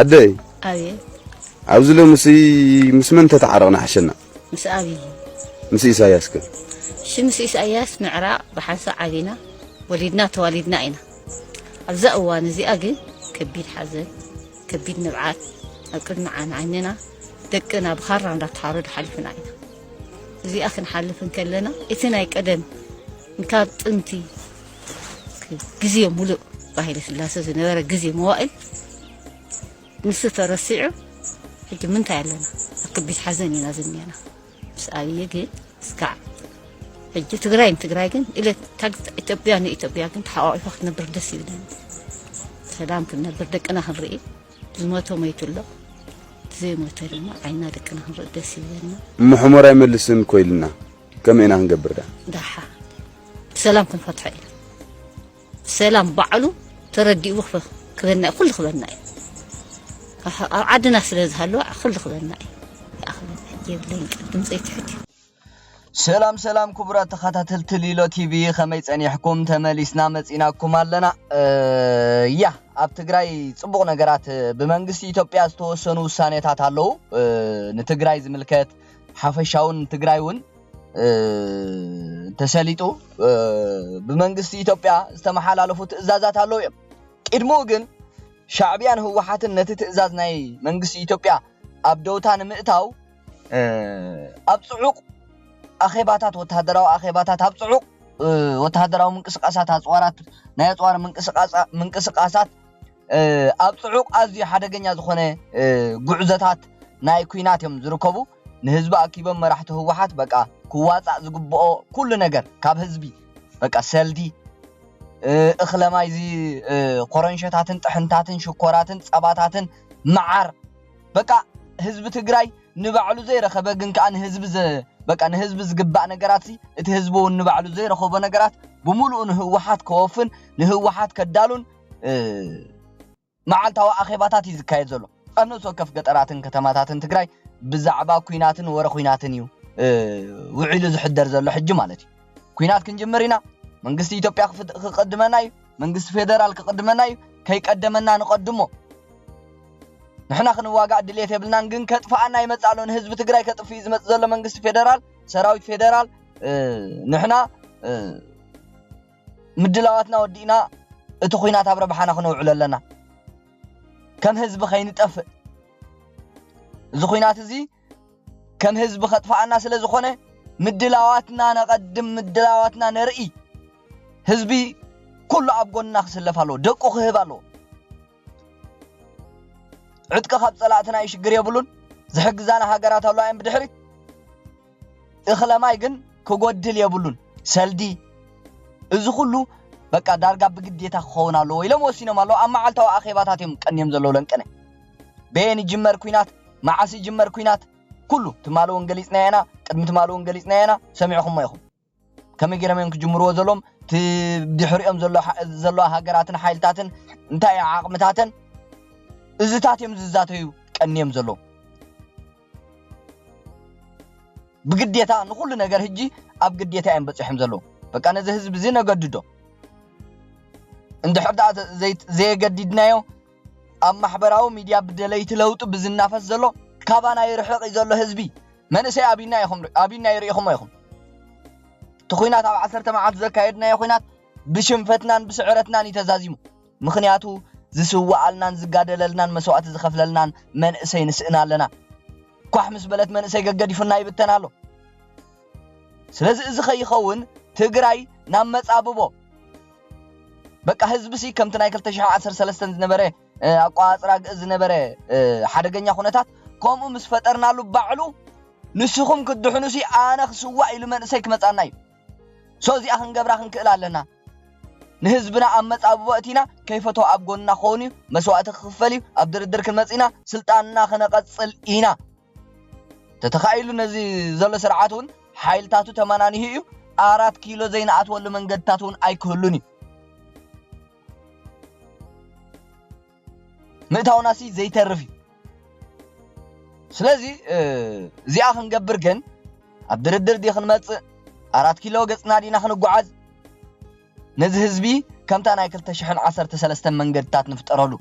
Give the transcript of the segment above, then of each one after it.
ኣደይ ኣብየ ኣብዚ ሎምሲ ምስ መን ተተዓረቕና ሓሸና ምስ ኣብይ ምስ ኢሳያስ ከ እሺ ምስ ኢሳያስ ምዕራቕ ብሓንሳ ዓቢና ወሊድና ተዋሊድና ኢና ኣብዛ እዋን እዚኣ ግን ከቢድ ሓዘን ከቢድ ንብዓት ኣብ ቅድሚ ዓይንና ደቅና ብኻራ እንዳተሓረዱ ሓሊፍና ኢና እዚኣ ክንሓልፍ እንከለና እቲ ናይ ቀደም ካብ ጥንቲ ግዜ ሙሉእ ብሃይለ ስላሰ ዝነበረ ግዜ መዋእል ንሱ ተረሲዑ ሕጂ ምንታይ ኣለና ኣብ ከቢድ ሓዘን ኢና ዝኒአና ምስ ኣብዪ ግን እስካዕ ሕጂ ትግራይ ንትግራይ ግን ኢለት ኢትዮጵያ ንኢትዮጵያ ግን ተሓቋቂፋ ክትነብር ደስ ይብለኒ ሰላም ክንነብር ደቅና ክንርኢ ዝሞተ ሞይቱ ኣሎ ዘይሞተ ድማ ዓይና ደቅና ክንርኢ ደስ ይብለና ምሕሞር ኣይመልስን ኮይልና ከመይ ኢና ክንገብር ደኣ? ደሓ ብሰላም ክንፈትሖ ኢና። ብሰላም ባዕሉ ተረዲኡ ክበና እዩ፣ ኩሉ ክበና እዩ። ኣብ ዓድና ስለ ዝሃለወ ኩሉ ክበና እዩ። ይኣኽለና የብለይን ቃል ድምፀይ ትሑት እዩ። ሰላም ሰላም ክቡራት ተኸታተልቲ ሊሎ ቲቪ ከመይ ጸኒሕኩም? ተመሊስና መጺናኩም ኣለና። ያ ኣብ ትግራይ ጽቡቕ ነገራት ብመንግስቲ ኢትዮጵያ ዝተወሰኑ ውሳኔታት ኣለዉ ንትግራይ ዝምልከት ሓፈሻውን ትግራይ እውን ተሰሊጡ ብመንግስቲ ኢትዮጵያ ዝተመሓላለፉ ትእዛዛት ኣለዉ እዮም። ቅድምኡ ግን ሻዕቢያን ህወሓትን ነቲ ትእዛዝ ናይ መንግስቲ ኢትዮጵያ ኣብ ደውታ ንምእታው ኣብ ፅዑቕ ኣኼባታት ወተሃደራዊ ኣኼባታት ኣብ ፅዑቕ ወተሃደራዊ ምንቅስቃሳት ኣፅዋራት ናይ ኣፅዋር ምንቅስቃሳት ኣብ ጽዑቕ ኣዝዩ ሓደገኛ ዝኾነ ጉዕዞታት ናይ ኩናት እዮም ዝርከቡ ንህዝቢ ኣኪቦም መራሕቲ ህወሓት በቃ ክዋጻእ ዝግብኦ ኩሉ ነገር ካብ ህዝቢ በቃ ሰልዲ እኽለማይ እዚ ኮረንሸታትን ጥሕንታትን ሽኮራትን ጸባታትን መዓር በቃ ህዝቢ ትግራይ ንባዕሉ ዘይረኸበ ግን ከኣ ንህዝቢ በቃ ንህዝቢ ዝግባእ ነገራት ሲ እቲ ህዝቢ እውን ንባዕሉ ዘይረኸቦ ነገራት ብምሉኡ ንህወሓት ከወፍን ንህወሓት ከዳሉን መዓልታዊ ኣኼባታት እዩ ዝካየድ ዘሎ። ኣብ ነብሲ ወከፍ ገጠራትን ከተማታትን ትግራይ ብዛዕባ ኩናትን ወረ ኩናትን እዩ ውዒሉ ዝሕደር ዘሎ ሕጂ ማለት እዩ። ኩናት ክንጅምር ኢና፣ መንግስቲ ኢትዮጵያ ክቅድመና እዩ፣ መንግስቲ ፌደራል ክቅድመና እዩ፣ ከይቀደመና ንቀድሞ ንሕና ክንዋጋእ ድሌት የብልናን ግን ከጥፍኣና ይመጽእ ኣሎ ንህዝቢ ትግራይ ከጥፍእ እዩ ዝመጽእ ዘሎ መንግስቲ ፌደራል ሰራዊት ፌደራል ንሕና ምድላዋትና ወዲእና እቲ ኹናት ኣብ ረብሓና ክነውዕሎ ኣለና ከም ህዝቢ ከይንጠፍእ እዚ ኹናት እዚ ከም ህዝቢ ከጥፋኣና ስለ ዝኾነ ምድላዋትና ነቐድም ምድላዋትና ነርኢ ህዝቢ ኩሉ ኣብ ጎንና ክስለፍ ኣለዎ ደቁ ክህብ ኣለዎ ዕጥቂ ካብ ጸላእትና ይሽግር የብሉን ዝሕግዛና ሃገራት ኣለዋ እየን ብድሕሪት እኽለ ማይ ግን ክጎድል የብሉን ሰልዲ እዚ ኩሉ በቃ ዳርጋ ብግዴታ ክኸውን ኣለዎ ኢሎም ወሲኖም ኣለዉ ኣብ መዓልታዊ ኣኼባታት እዮም ቀንዮም ዘለዉ ለንቅነ በየን ይጅመር ኩናት መዓስ ይጅመር ኩናት ኩሉ ትማሊ እውን ገሊፅና ኢና ቅድሚ ትማሊ እውን ገሊፅና ኢና ሰሚዕኹሞ ኢኹም ከመይ ገይሮም እዮም ክጅምርዎ ዘሎም እቲ ድሕሪኦም ዘለዋ ሃገራትን ሓይልታትን እንታይ እዩ ዓቕምታተን እዚታት እዮም ዝዛተዩ ቀንዮም ዘለዉ ብግዴታ ንኹሉ ነገር ህጂ ኣብ ግዴታ እዮም በፂሖም ዘለዉ በቃ ነዚ ህዝቢ እዚ ነገድዶ እንድሕር ደኣ ዘየገዲድናዮ ኣብ ማሕበራዊ ሚድያ ብደለይቲ ለውጢ ብዝናፈስ ዘሎ ካባና ይርሕቕ እዩ ዘሎ ህዝቢ መንእሰይ ኣብይና ኢኹም ኣብይና ይርኢኹሞ ኢኹም እቲ ኹናት ኣብ ዓሰርተ መዓልቲ ዘካየድናዮ ኹናት ብሽንፈትናን ብስዕረትናን እዩ ተዛዚሙ ምኽንያቱ ዝስዋኣልናን ዝጋደለልናን መስዋእቲ ዝኸፍለልናን መንእሰይ ንስእና ኣለና ኳሕ ምስ በለት መንእሰይ ገገዲፉና ይብተን ኣሎ። ስለዚ እዚ ከይኸውን ትግራይ ናብ መጻብቦ በቃ ህዝብሲ ከምቲ ናይ 2013 ዝነበረ ኣቋጽራ ግእዝ ዝነበረ ሓደገኛ ኩነታት ከምኡ ምስ ፈጠርናሉ ባዕሉ ንስኹም ክትድሕኑሲ ኣነ ክስዋእ ኢሉ መንእሰይ ክመጻና እዩ። ሶ እዚኣ ክንገብራ ክንክእል ኣለና። ንህዝብና ኣብ መጻብቦ ኣእቲና ከይፈተወ ኣብ ጎንና ክኸውን እዩ፣ መስዋእቲ ክኽፈል እዩ፣ ኣብ ድርድር ክንመጽእ ኢና፣ ስልጣንና ክነቐጽል ኢና። ተተኻኢሉ ነዚ ዘሎ ስርዓት እውን ሓይልታቱ ተመናኒሁ እዩ፣ ኣራት ኪሎ ዘይንኣትወሉ መንገድታት እውን ኣይክህሉን እዩ። ምእታውናሲ ዘይተርፍ እዩ ስለዚ እዚኣ ክንገብር ግን ኣብ ድርድር ዲ ክንመጽእ ኣራት ኪሎ ገጽና ዲና ክንጓዓዝ ነዚ ህዝቢ ከምታ ናይ 213 መንገድታት ንፍጠረሉ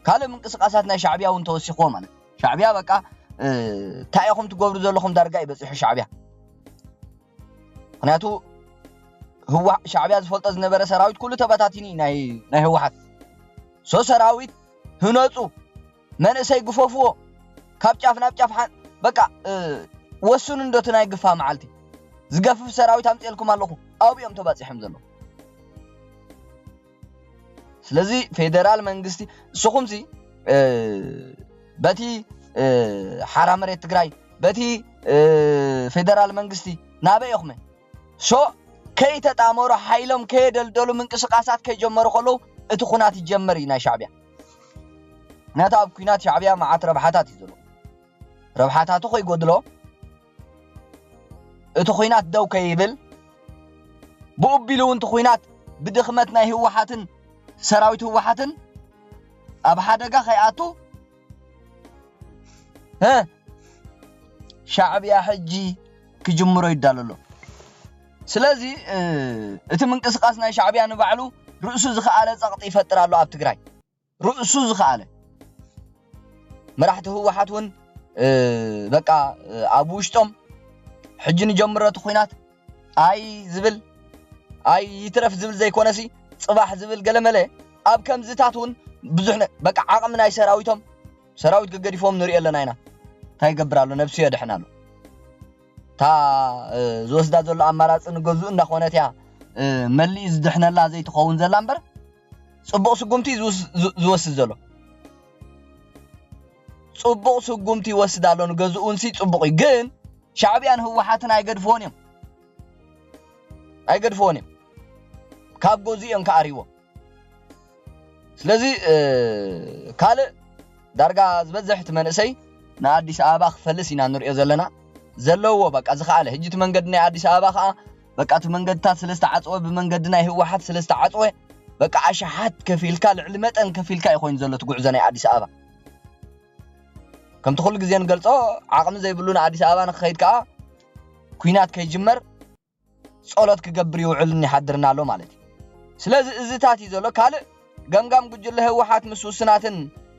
ካልእ ምንቅስቃሳት ናይ ሻዕቢያ እውን ተወሲኽዎ ማለት ሻዕቢያ በቃ እንታይ ኢኹም ትገብሩ ዘለኹም ዳርጋ እዩ በፂሑ ሻዕቢያ ምክንያቱ ህዋ ሻዕቢያ ዝፈልጦ ዝነበረ ሰራዊት ኩሉ ተበታቲኒ ናይ ናይ ህወሓት ሶ ሰራዊት ህነፁ መንእሰይ ግፈፍዎ ካብ ጫፍ ናብ ጫፍ ሓን በቃ ወስኑ እንዶ እቲ ናይ ግፋ መዓልቲ ዝገፍፍ ሰራዊት ኣምፅኤልኩም ኣለኹ ኣብኦም ተባፂሖም ዘለዉ ስለዚ ፌደራል መንግስቲ ንስኹምሲ በቲ ሓራ መሬት ትግራይ በቲ ፌደራል መንግስቲ ናበይ ኢኹመ ሶ ከይተጣመሩ ሓይሎም ከየደልደሉ ምንቅስቃሳት ከይጀመሩ ከለዉ እቲ ኩናት ይጀመር እዩ ናይ ሻዕቢያ ምክንያቱ ኣብ ኩናት ሻዕቢያ መዓት ረብሓታት እዩ ዘሎ ረብሓታቱ ከይጎድሎ እቲ ኹናት ደው ከይብል ብኡቢሉ እውን እቲ ኹናት ብድኽመት ናይ ህወሓትን ሰራዊት ህወሓትን ኣብ ሓደጋ ከይኣቱ ሻዕብያ ሕጂ ክጅምሮ ይዳሎ ኣሎ ስለዚ እቲ ምንቅስቃስ ናይ ሻዕብያ ንባዕሉ ርእሱ ዝኸኣለ ጸቕጢ ይፈጥር ኣሎ ኣብ ትግራይ ርእሱ ዝኸኣለ መራሕቲ ህወሓት እውን በቃ ኣብ ውሽጦም ሕጂ ንጀምሮ እቲ ኹናት ኣይ ዝብል ኣይ ይትረፍ ዝብል ዘይኮነሲ ፅባሕ ዝብል ገለመለ ኣብ ከምዝታት እውን ብዙሕ በቃ ዓቕሚ ናይ ሰራዊቶም ሰራዊት ገገዲፎም ንሪኦ ኣለና ኢና እንታይ ይገብር ኣሎ ነብሱ የድሕን ኣሎ እታ ዝወስዳ ዘሎ ኣማራፂ ንገዝኡ እንዳኾነት እያ መሊእ ዝድሕነላ ዘይትኸውን ዘላ እምበር ጽቡቕ ስጉምቲ ዝወስድ ዘሎ ጽቡቕ ስጉምቲ ይወስድ ኣሎ ንገዝኡንሲ ጽቡቕ እዩ ግን ሻዕብያን ህወሓትን ኣይገድፍዎን እዮም ኣይገድፍዎን እዮም ካብ ገዙ እዮም ከኣርይዎ ስለዚ ካልእ ዳርጋ ዝበዝሕ እቲ መንእሰይ ንኣዲስ ኣበባ ክፈልስ ኢና ንሪኦ ዘለና ዘለዎ በቃ ዝኸኣለ ህጂ እቲ መንገዲ ናይ ኣዲስ ኣበባ ከዓ በቃ እቲ መንገድታት ስለ ዝተዓጽወ ብመንገዲ ናይ ህወሓት ስለ ዝተዓጽወ በቃ ኣሽሓት ከፊልካ ልዕሊ መጠን ከፊልካ እዩ ኮይኑ ዘሎ እቲ ጉዕዞ ናይ ኣዲስ ኣበባ ከምቲ ኩሉ ግዜ ንገልጾ ዓቕሚ ዘይብሉ ንኣዲስ ኣበባ ንክኸይድ ከዓ ኩናት ከይጅመር ጸሎት ክገብር ይውዕልን ይሓድርን ኣሎ ማለት እዩ ስለዚ እዚታት እዩ ዘሎ ካልእ ገምጋም ጉጅለ ህወሓት ምስ ውስናትን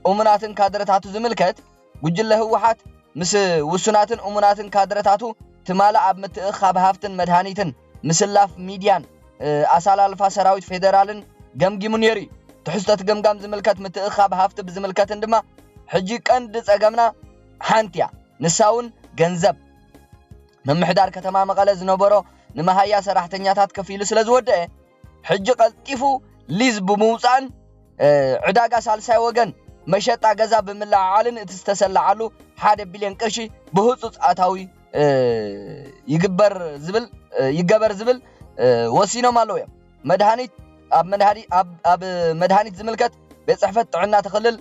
እሙናትን ካድረታቱ ዝምልከት ጉጅለ ህወሓት ምስ ውሱናትን እሙናትን ካድረታቱ ትማል ኣብ ምትእኽኻብ ሃፍትን መድሃኒትን፣ ምስላፍ ሚድያን ኣሰላልፋ ሰራዊት ፌደራልን ገምጊሙ ነይሩ እዩ። ትሕዝቶ እቲ ገምጋም ዝምልከት ምትእኽኻብ ሃፍቲ ብዝምልከትን ድማ ሕጂ ቀንዲ ፀገምና ሓንቲ እያ፣ ንሳ እውን ገንዘብ። ምምሕዳር ከተማ መቐለ ዝነበሮ ንመሃያ ሰራሕተኛታት ከፊሉ ስለዝወደኣ፣ ሕጂ ቀልጢፉ ሊዝ ብምውጻእን ዕዳጋ ሳልሳይ ወገን መሸጣ ገዛ ብምልዕዓልን እቲ ዝተሰለዓሉ ሓደ ቢልዮን ቅርሺ ብህጹጽ ኣታዊ ይግበር ዝብል ይገበር ዝብል ወሲኖም ኣለዉ እዮም። መድሃኒት ኣብ መድሃኒ ኣብ ኣብ መድሃኒት ዝምልከት ቤት ጽሕፈት ጥዕና እቲ ክልል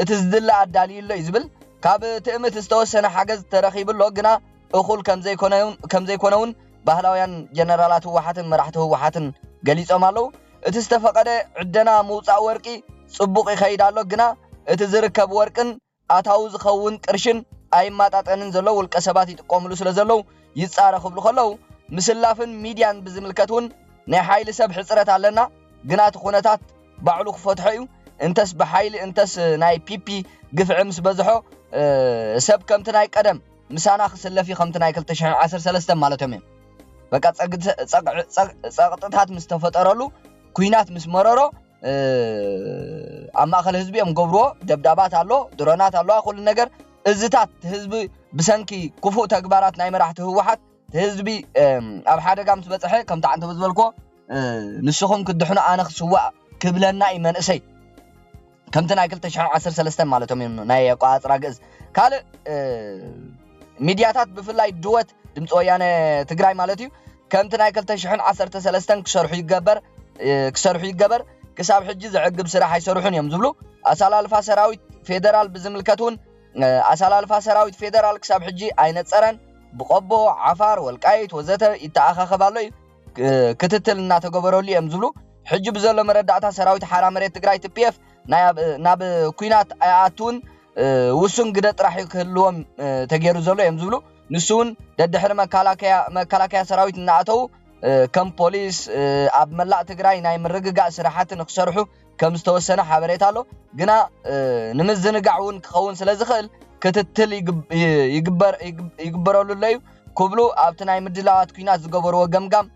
እቲ ዝድለ ኣዳልዩ ኣሎ እዩ ዝብል ካብ ትእምት ዝተወሰነ ሓገዝ ተረኺቡ ኣሎ ግና እኹል ከምዘይኮነ ከምዘይኮነ እውን ባህላውያን ጀነራላት ህወሓትን መራሕቲ ህወሓትን ገሊፆም ኣለው። እቲ ዝተፈቐደ ዕደና ምውፃእ ወርቂ ፅቡቕ ይኸይድ ኣሎ፣ ግና እቲ ዝርከብ ወርቅን ኣታዊ ዝኸውን ቅርሽን ኣይማጣጠንን ዘሎ ውልቀሰባት ይጥቀምሉ ስለዘለው ይፃረ ክብሉ ከለው፣ ምስላፍን ሚድያን ብዝምልከት ውን ናይ ሓይሊ ሰብ ሕፅረት ኣለና፣ ግና እቲ ኩነታት ባዕሉ ክፈትሖ ዩ፣ እንተስ ብሓይሊ እንተስ ናይ ፒፒ ግፍዒ ምስበዝሖ ሰብ ከምቲ ናይ ቀደም። ምሳና ክስለፊ ከምቲ ናይ ክልተ ሽሕን ዓሰርተ ሰለስተን ማለቶም እዮም በቃ ጸቕጥታት ምስ ተፈጠረሉ ኩናት ምስ መረሮ ኣብ ማእከል ህዝቢ እዮም ገብርዎ ደብዳባት ኣሎ ድሮናት ኣለዋ ኩሉ ነገር እዝታት ህዝቢ ብሰንኪ ክፉእ ተግባራት ናይ መራሕቲ ህወሓት ህዝቢ ኣብ ሓደጋ ምስ በፅሐ ከምቲ ዓንተበ ዝበልክዎ ንስኹም ክድሕኑ ኣነ ክስዋእ ክብለና እዩ መንእሰይ ከምቲ ናይ ክልተ ሽሕን ዓሰርተ ሰለስተን ማለቶም እዮም ናይ ኣቆጻጽራ ግእዝ ካልእ ሚድያታት ብፍላይ ድወት ድምፂ ወያነ ትግራይ ማለት እዩ ከምቲ ናይ ክልተ ሽሕን ዓሰርተ ሰለስተን ክሰርሑ ይገበር ክሰርሑ ይገበር ክሳብ ሕጂ ዘዕግብ ስራሕ ኣይሰርሑን እዮም ዝብሉ ኣሰላልፋ ሰራዊት ፌደራል ብዝምልከት እውን ኣሰላልፋ ሰራዊት ፌደራል ክሳብ ሕጂ ኣይነፀረን ብቆቦ ዓፋር ወልቃይት ወዘተ ይተኣኻኸብ ኣሎ እዩ ክትትል እናተገበረሉ እዮም ዝብሉ ሕጂ ብዘሎ መረዳእታ ሰራዊት ሓራ መሬት ትግራይ ትፒኤፍ ናብ ኩናት ኣይኣትውን ውሱን ግደ ጥራሕ እዩ ክህልዎም ተገይሩ ዘሎ እዮም ዝብሉ ንሱ እውን ደድሕሪ መከላከያ ሰራዊት እናኣተዉ ከም ፖሊስ ኣብ መላእ ትግራይ ናይ ምርግጋእ ስራሕቲ ንክሰርሑ ከም ዝተወሰነ ሓበሬታ ኣሎ። ግና ንምዝንጋዕ እውን ክኸውን ስለ ዝኽእል ክትትል ይግበረሉ ኣሎ እዩ ክብሉ ኣብቲ ናይ ምድላዋት ኩናት ዝገበርዎ ገምጋም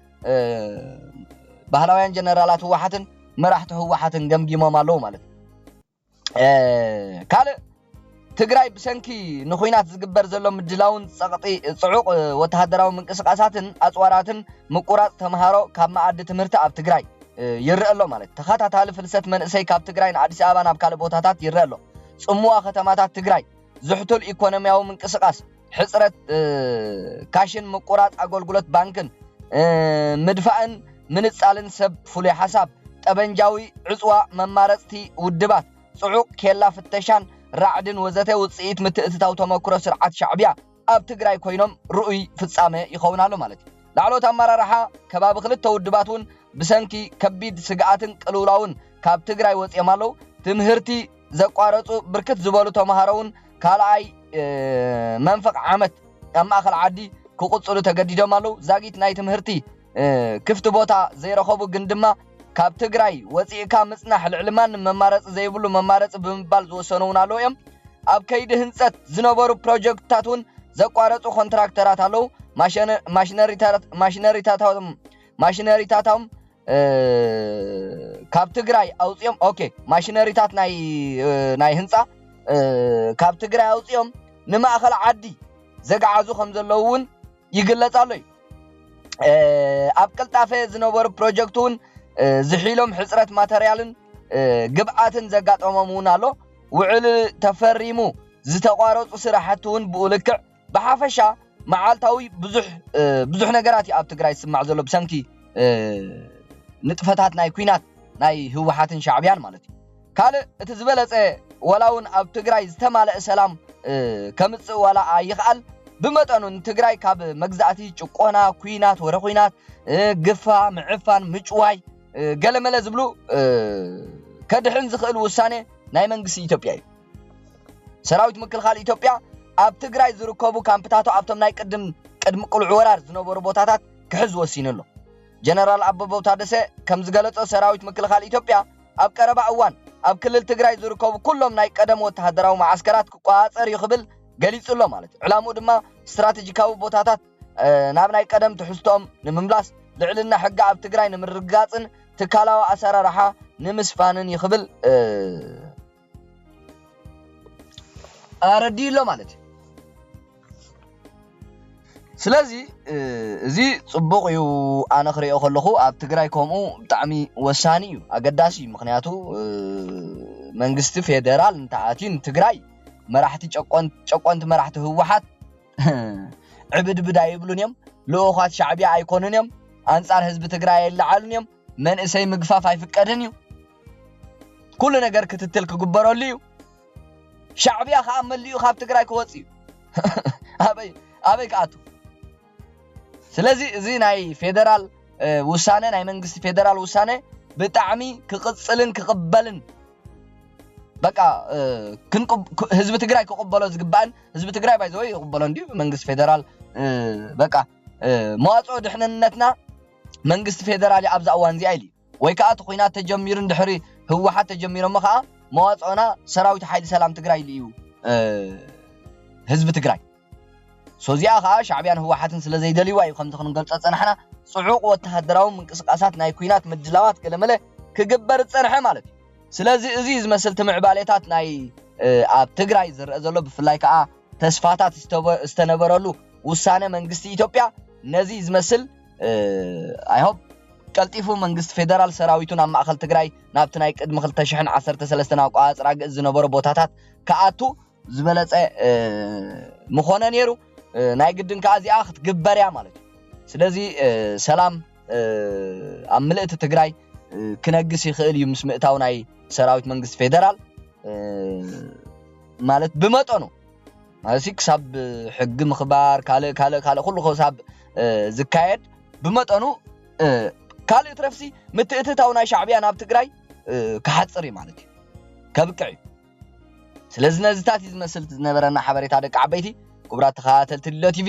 ባህላውያን ጀነራላት ህወሓትን መራሕቲ ህወሓትን ገምጊሞም ኣለዉ ማለት እዩ። ካልእ ትግራይ ብሰንኪ ንኹናት ዝግበር ዘሎ ምድላውን ጸቕጢ ጽዑቕ ወተሃደራዊ ምንቅስቓሳትን ኣጽዋራትን ምቁራጽ ተምሃሮ ካብ መኣዲ ትምህርቲ ኣብ ትግራይ ይረኣ ኣሎ ማለት ተኸታታሊ ፍልሰት መንእሰይ ካብ ትግራይ ንኣዲስ ኣበባ ናብ ካልእ ቦታታት ይረኣ ኣሎ ጽምዋ ከተማታት ትግራይ ዝሕቱል ኢኮኖሚያዊ ምንቅስቓስ ሕጽረት ካሽን ምቁራጽ ኣገልግሎት ባንክን ምድፋእን ምንጻልን ሰብ ፍሉይ ሓሳብ ጠበንጃዊ ዕጽዋ መማረጽቲ ውድባት ጽዑቕ ኬላ ፍተሻን ራዕድን ወዘተ ውጽኢት ምትእትታው ተመኩሮ ስርዓት ሻዕቢያ ኣብ ትግራይ ኮይኖም ርኡይ ፍጻመ ይኸውን ኣሎ ማለት እዩ። ላዕለዎት ኣመራርሓ ከባቢ ክልተ ውድባት እውን ብሰንኪ ከቢድ ስግኣትን ቅልውላውን ካብ ትግራይ ወጺኦም ኣለዉ። ትምህርቲ ዘቋረጹ ብርክት ዝበሉ ተምሃሮ እውን ካልኣይ መንፈቕ ዓመት ኣብ ማእኸል ዓዲ ክቕጽሉ ተገዲዶም ኣለዉ። ዛጊት ናይ ትምህርቲ ክፍቲ ቦታ ዘይረኸቡ ግን ድማ ካብ ትግራይ ወፂእካ ምፅናሕ ልዕሊ ማንም መማረፂ ዘይብሉ መማረፂ ብምባል ዝወሰኑ እውን ኣለዉ እዮም። ኣብ ከይዲ ህንፀት ዝነበሩ ፕሮጀክትታት እውን ዘቋረፁ ኮንትራክተራት ኣለዉ። ማሽነሪታቶም ማሽነሪታቶም ካብ ትግራይ ኣውፅኦም ኦኬ ማሽነሪታት ናይ ናይ ህንፃ ካብ ትግራይ ኣውፅኦም ንማእኸል ዓዲ ዘግዓዙ ከም ዘለዉ እውን ይግለፅ ኣሎ እዩ ኣብ ቅልጣፈ ዝነበሩ ፕሮጀክት እውን ዝሒሎም ሕፅረት ማተርያልን ግብኣትን ዘጋጠሞም እውን ኣሎ ውዕል ተፈሪሙ ዝተቋረፁ ስራሕቲ እውን ብኡ ልክዕ ብሓፈሻ መዓልታዊ ብዙሕ ብዙሕ ነገራት እዩ ኣብ ትግራይ ዝስማዕ ዘሎ ብሰንኪ ንጥፈታት ናይ ኩናት ናይ ህወሓትን ሻዕብያን ማለት እዩ ካልእ እቲ ዝበለጸ ዋላ ውን ኣብ ትግራይ ዝተማለእ ሰላም ከምጽእ ዋላ ኣይኽኣል ብመጠኑ ንትግራይ ካብ መግዛእቲ ጭቆና ኩናት ወረ ኩናት ግፋ ምዕፋን ምጭዋይ ገለመለ ዝብሉ ከድሕን ዝኽእል ውሳነ ናይ መንግስቲ ኢትዮጵያ እዩ ሰራዊት ምክልኻል ኢትዮጵያ ኣብ ትግራይ ዝርከቡ ካምፕታቱ ኣብቶም ናይ ቅድም ቅድሚ ቅልዑ ወራር ዝነበሩ ቦታታት ክሕዝ ወሲኑ ኣሎ ጀነራል ኣበበው ታደሰ ከም ዝገለጾ ሰራዊት ምክልኻል ኢትዮጵያ ኣብ ቀረባ እዋን ኣብ ክልል ትግራይ ዝርከቡ ኩሎም ናይ ቀደም ወተሃደራዊ መዓስከራት ክቆፃፀር እዩ ክብል ገሊፁ ኣሎ ማለት እዩ። ዕላምኡ ድማ ስትራቴጂካዊ ቦታታት ናብ ናይ ቀደም ትሕዝቶኦም ንምምላስ፣ ልዕልና ሕጊ ኣብ ትግራይ ንምርግጋፅን ትካላዊ ኣሰራርሓ ንምስፋንን እዩ ክብል ኣረዲኡ ኣሎ ማለት እዩ ስለዚ እዚ ፅቡቅ እዩ ኣነ ክሪኦ ከለኩ ኣብ ትግራይ ከምኡ ብጣዕሚ ወሳኒ እዩ ኣገዳሲ እዩ ምክንያቱ መንግስቲ ፌደራል እንተኣትዩ ንትግራይ መራሕቲ ጨቆንቲ መራሕቲ ህወሓት ዕብድብድ ኣይብሉን እዮም ልኡኳት ሻዕቢያ ኣይኮኑን እዮም ኣንፃር ህዝቢ ትግራይ ኣይለዓሉን እዮም መንእሰይ ምግፋፍ ኣይፍቀድን እዩ ኩሉ ነገር ክትትል ክግበረሉ እዩ ሻዕብያ ከዓ መሊኡ ካብ ትግራይ ክወፅ እዩ ኣበይ ኣበይ ክኣቱ ስለዚ እዚ ናይ ፌደራል ውሳነ ናይ መንግስቲ ፌደራል ውሳነ ብጣዕሚ ክቕፅልን ክቕበልን በቃ ህዝቢ ትግራይ ክቕበሎ ዝግባእን ህዝቢ ትግራይ ባይዘወይ ይቕበሎ እንዲዩ መንግስቲ ፌደራል በቃ መዋፅኦ ድሕንነትና መንግስቲ ፌደራል ኣብዛ እዋን እዚኣ ኢሉ ወይ ከኣ እቲ ኹናት ተጀሚሩ እንድሕሪ ህወሓት ተጀሚሮሞ ከኣ መዋፅኦና ሰራዊት ሓይሊ ሰላም ትግራይ ልዩ ህዝቢ ትግራይ so እዚኣ ከኣ ሻዕቢያን ህወሓትን ስለ ዘይደልይዋ እዩ ከምዚ ክንገልፆ ዝፀናሕና ፅዑቕ ወተሃደራዊ ምንቅስቓሳት ናይ ኩናት ምድላዋት ገለመለ ክግበር ዝፀንሐ ማለት እዩ ስለዚ እዚ ዝመስል ትምዕባሌታት ናይ ኣብ ትግራይ ዝረአ ዘሎ ብፍላይ ከኣ ተስፋታት ዝተነበረሉ ውሳነ መንግስቲ ኢትዮጵያ ነዚ ዝመስል ኣይ ሆፕ ቀልጢፉ መንግስቲ ፌደራል ሰራዊቱ ናብ ማእኸል ትግራይ ናብቲ ናይ ቅድሚ ክልተ ሽሕን ዓሰርተ ሰለስተን ኣቋፃፅራ ግእዝ ዝነበሮ ቦታታት ክኣቱ ዝበለፀ ምኾነ ነይሩ። ናይ ግድን ከዓ እዚኣ ክትግበር እያ ማለት እዩ። ስለዚ ሰላም ኣብ ምልእቲ ትግራይ ክነግስ ይኽእል እዩ ምስ ምእታው ናይ ሰራዊት መንግስቲ ፌደራል ማለት ብመጠኑ ማለትሲ ክሳብ ሕጊ ምኽባር ካልእ ካልእ ካልእ ኩሉ ክሳብ ዝካየድ ብመጠኑ ካልእ ትረፍሲ ምትእትታው ናይ ሻዕብያ ናብ ትግራይ ክሓፅር እዩ ማለት እዩ ከብቅዕ እዩ ስለዚ ነዚታት እዩ ዝመስል ዝነበረና ሓበሬታ ደቂ ዓበይቲ ክቡራት ተኸታተልቲ ልሎ ቲቪ